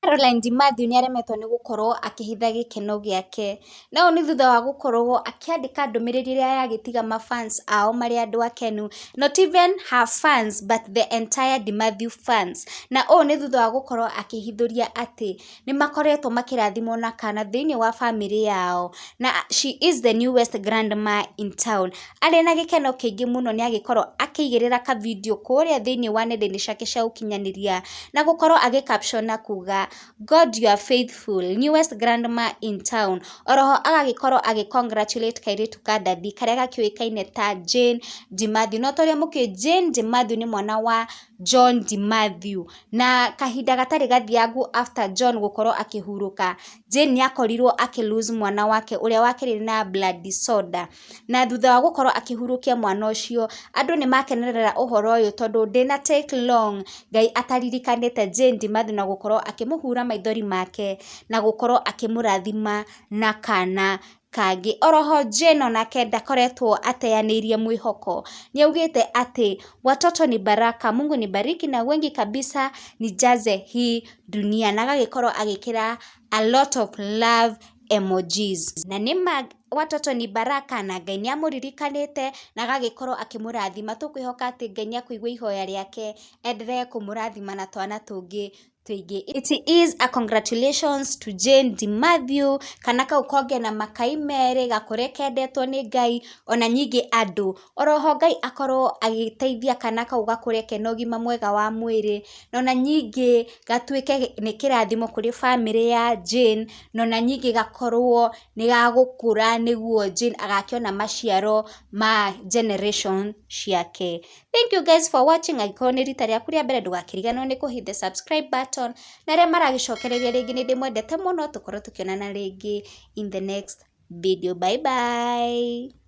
Caroline Ndimathi nĩ aremetwo nĩ gũkorwo akĩhitha gĩkeno gĩake. Na ũũ nĩ thutha wa gũkorwo akĩandĩka ndũmĩrĩri ĩrĩa ya gĩtiga ma fans ao marĩ andũ akenu. Not even her fans but the entire Ndimathi fans. Na ũũ nĩ thutha wa gũkorwo akĩhithũria atĩ. nĩ makoretwo makĩrathimwo na kana thĩinĩ wa bamĩrĩ yao, na she is the newest grandma in town. Arĩ na gĩkeno kĩingĩ mũno nĩ agĩkorwo akĩigĩrĩra ka video kũrĩa thĩinĩ wa nenda-inĩ ciake cia ũkinyanĩria, na gũkorwo agĩ caption na kuuga, God you are faithful, newest grandma in town. Oro ho agagĩkorwo agĩ congratulate kairĩtu ka ndathi karĩa gakĩũĩkaine ta Jane Di Mathew. No ta ũrĩa mũkĩũĩ Jane Di Mathew nĩ mwana wa John Di Mathew. Na kahinda gatarĩ gathiangu after John gũkorwo akĩhurũka, Jane nĩ akorirwo akĩ lose mwana wake ũrĩa wa kerĩ na blood disorder. Na thutha wa gũkorwo akĩhurũkia mwana ũcio, andũ nĩ makenerera ũhoro ũyũ tondũ ndĩna take long Ngai ataririkanĩte Jane Ndimathu na gũkorwo akĩmũhura maithori make na gũkorwo akĩmũrathima na kana. Kangi. Oroho Jane onake ndakoretwo ateyanĩirie mwĩhoko. Nĩaugĩte atĩ, Watoto ni baraka, Mungu nibariki na wengi kabisa nijaze hii dunia na agagĩkorwo agĩkĩra a lot of love emojis. Na nĩma watoto ni baraka na Ngai nĩamũririkanĩte na agagĩkorwo akĩmũrathima. Tũkwĩhoka atĩ Ngai nĩakũigua ihoya rĩake enderee kũmũrathima na twana tũngĩ. tũingĩ. It is a congratulations to Jane de Mathew, kana kau konge na makai merĩ, gakũre kendetwo nĩ Ngai, ona nyingĩ andũ. Oroho Ngai akorwo agĩteithia kana kau gakũre kena ũgima mwega wa mwĩrĩ, nona nyingĩ gatuĩke nĩ kĩrathimo kũrĩ bamĩrĩ ya Jane, nona nyingĩ gakorwo nĩ gagũkũra nĩguo Jane agakĩona maciaro ma generation ciake. Thank you guys for watching. Angĩkorwo nĩ rita rĩaku rĩa mbere ndũgakĩriganĩrwo nĩ kũhit the subscribe button. Na arĩa maragĩcokereria rĩngĩ nĩ ndĩmwendete mũno, tũkorwo tũkĩonana rĩngĩ in the next video. Bye bye.